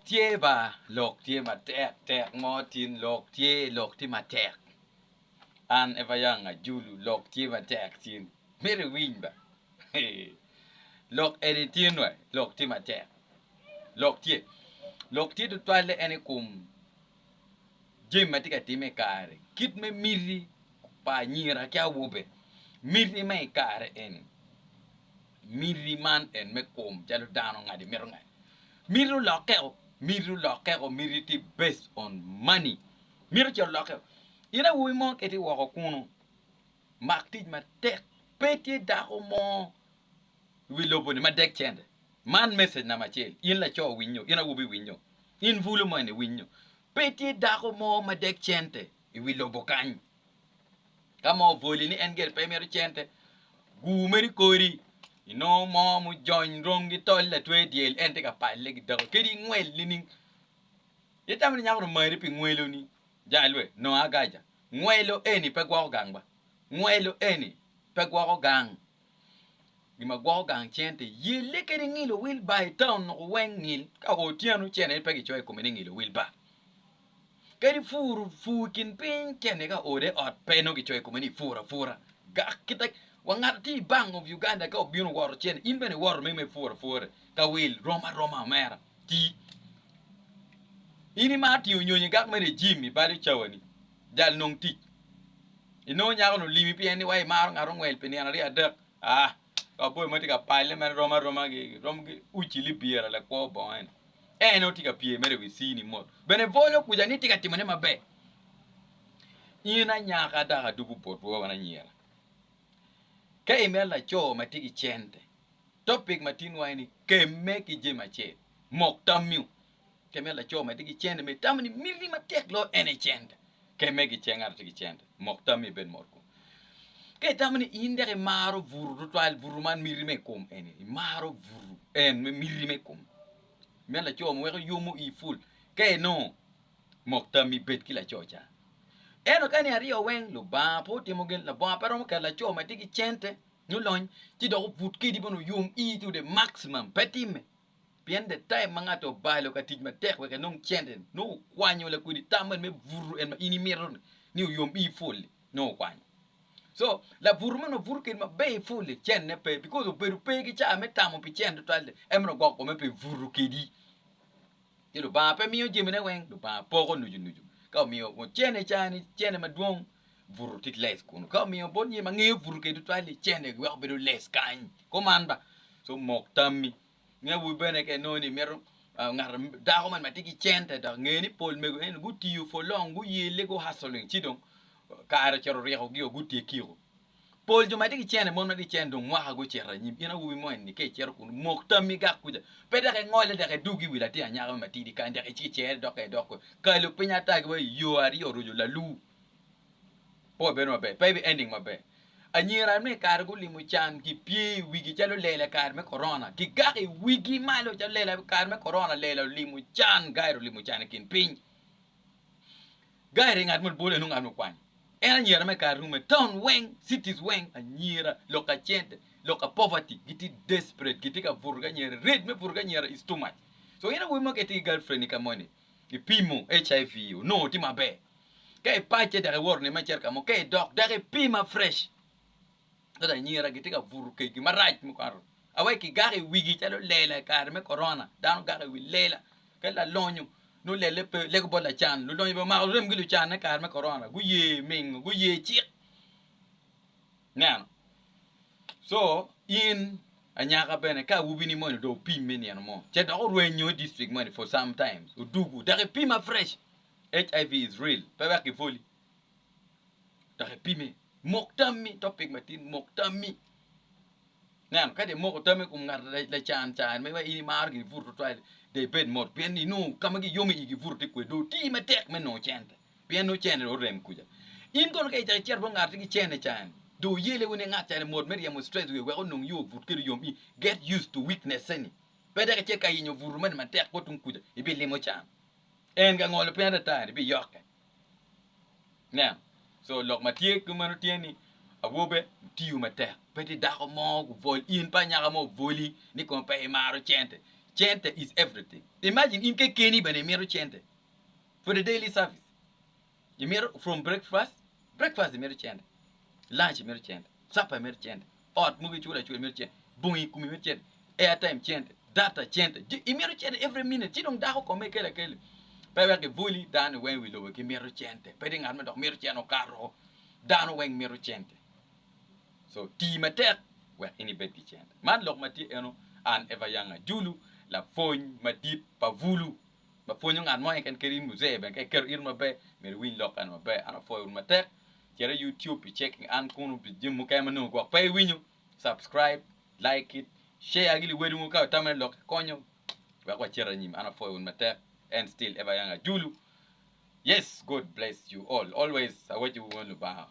Tye ba lok tye matek tek mo tin lok tye lok tye matek an ever young ajulu lok tye matek tin myero iwiny ba eeh lok eni tin wa lok tye matek lok tye lok tye tutwalle en ikom jami ma tye ka time i kare kit me miti pa anyira ki awobe miti ma ikare eni Miti man en me kom calo dano ngadi mito ngec. Miti olokke o, miti olokke o, miti tye based on money. Miti ce olokke o. In awobi mo kiti woko kunu, mak tic matek, pe tye dako mo i wi lobo-ni ma dek cente. Man message namba acel, in laco winyo, in awobi winyo, in bulu mo eni winyo, pe tye dako mo ma dek cente i wi lobo kany. Ka moo oboli ni en gire pe imito cente, gur mere i kori inongo moo mujony rong ki tol latwe dyel en tye ka palle ki dako kadi ingwel nining? Itamo ni nyako ni omari pi ngweloni? Janga lwet, nongo agaja. Ngwelo eni pe gwoko gang ba. Ngwelo eni pe gwoko gang. Gin ma gwoko gang cente, yelle kede ngilo wilbar i taun noko weng ngil ka o otyeno cene aye pe gicoyo i kome ni ngilo wilbar. Kadi pur pur i kin piny cene ka ode ot pe nongo gicoyo i kome ni pur apura. Gak kita wa ngat atye i Bank of Uganda ka obino woto cene in bene iwoto me me pur apura ka wil rom aroma omera ti. In imaro tingo nyonyo i gak me regime i bal cawa ni. jal nong tic inongo nyako ni olimi pien ni wa imaro ngat ongwel pi nino aryo adek aa kaboyo ma tye ka palle mere rom aroma gi rom ki uci libira lakwo bongo eni en aye tye ka pye mere i wi cini mot bene bwolo kuca ni tye ka timone maber in anyaka dok adwogo botwu wan anyira ka imito laco ma tye ki cente topic ma tinwa eni kemme ki jami acel mok tammiu Kit me laco ma tye ki cente ma itamo ni miti matek loyo en aye cente. Kit me gice ngat ma tye ki cente, mok tammi ibed mot kom. Ka itamo ni in dek imaro bur tutwal, bur man miti me kom eni, imaro bur en me miti me kom. Kit me laco ma weko yomo ii pul ka inongo mok tammi ibed ki laco ca. Ento ka ni aryo weng Lubanga pe otimo gin, Lubanga pe romo keto laco ma tye ki cente nyo lony ci dok obut kwedi bene oyom ii tude maximum, pe timme. Pien the time ma ngat obalo ka tic matek wek enong cente nongo okwanyo lakwedi tam man me buto en ma in imito ni oyom iyi full li nongo okwanyo so labuto man ma buto kedi maber iyi full li cente ne pe because obedo pe ki ca me tamo pi cente tutwal li en meno ogoko kome pe buto kedi. Ci Lubanga pe miyo jamine weng, Lubanga poko nucu nucu. Ka omiyo kun cene i caa-ni, cene madwong buto ki lec kunu. Ka omiyo bot nyim ange obuto kede tutwal-li, cene giweko bedo lec kany. Kuman ba, ci omok tammi. Nge awobi bene ka inongo ni mito ngat, dako moni ma tye ki cente dok inge ni pol mego eni gutiyo for long, guyelle, gu hustling ci dong kare ocito ryekogio, gutyekio. Pol jo ma tye ki cen aye mon ma tye ki cen dong mwaka gucito anyim. In awobi mo eni-ni ka icito kunu, mok tammi gak kuca. Pe dok ingole dok idug i wi latin anyaka mo matidi kany dok icik cere dok ka idok kore. Kalo piny ata ki wa i yo aryo roco lalu, pe wabedo maber, pe ibi ending maber. Anyira me kare gulimo can gipye i wigi calo lela i kare me korona, gigak i wigi malo calo lela i kare me korona, lela olimo can, gaira olimo can i kin piny. Gairi ngat ma lubole nongo anongo kwany en anyira me kare rume town weng cities weng anyira lok ka cente lok ka poverty gitye desperate gitye ka buto ki anyira rate me buto ki anyira is too much so in awobi mo ka itye ki girl friend ni ka moni ipimo HIV onongo tye maber ka ipacce dok iwoto nino me cito ka mo ka idok dok ipima fresh Ka lanyira gitye ka buto kegi marac mukato awaci kigako i wigi calo lela i kare me korona, dano gako i wi lela. Ka lalonyo nongo lelle pe leko bot lacan, lulonyo bene omako remgi lucanne i kare me korona guye mingo, guye cik. Ineno? Co in anyaka bene ka awobini moni dong opim me nino mo ce dok orwenyo i district moni for some times odugu dok ipima fresh, HIV is real pe wek kibwoli. dok ipime. Mok tammi, topic matin, mok tammi. Ineno, ka dong imoko tammi i kom ngat lacan can ma in imaro gire buto tutwal-li, dong ibed mot pien ni inongo ka ma giyom iyigi buto tye kwede dong oti matek me nongo cente pien nongo cente dong orem kuca. In kono ka icako icito bot ngat ma gicenne can-ni, dong oyele wene ngat cani mot me ryemo stress wiye wek onong yo but kwede yom. Get used to weakness eni. Pe dok icit ka yenyo buto moni matek bot tung kuca, ibilimo can. En kangolo piny ata atani, ibiyokke. Nen, co lok ma tye kit meno tye ni awobe otiyo matek, pe tye dako mo obwol, in pe anyaka mo obwoli ni kong pe imaro cente. Cente is everything, imagine in kekeni bene imito cente for the daily service, imito from breakfast, breakfast imito cente, lunch imito cente, supper imito cente. Ot mogo iculo acula imito cente, bongi i kumi imito cente, airtime cente, data cente, je imito cente every minute ci dong dako kome kelo akeli. Pe wek kibwoli dano weng i wi lobo gimito cente, pe tye ngat ma dok mito cente okato, dano weng mito cente. So tii matek wek in ibed ki cente. Man lok ma tye eno an Eva Yanga Julu lapwony madit pa Bulu. ma pwonyo ngat mo keken kadi in muzee bene ka iketo ito maber myero iwiny lok eno maber an apwoyo wu matek cit i YouTube i checking an kunu pi jami mukene ma nongo gwok pe iwinyo subscribe like it share gi liwadi mogo ka itamone lok ikonyo wek wacit anyim an apwoyo wun matek and still ever young ajulu yes God bless you all always awaco wu wun Lubanga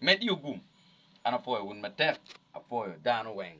med iyo gum an apwoyo wun matek apwoyo dano weng.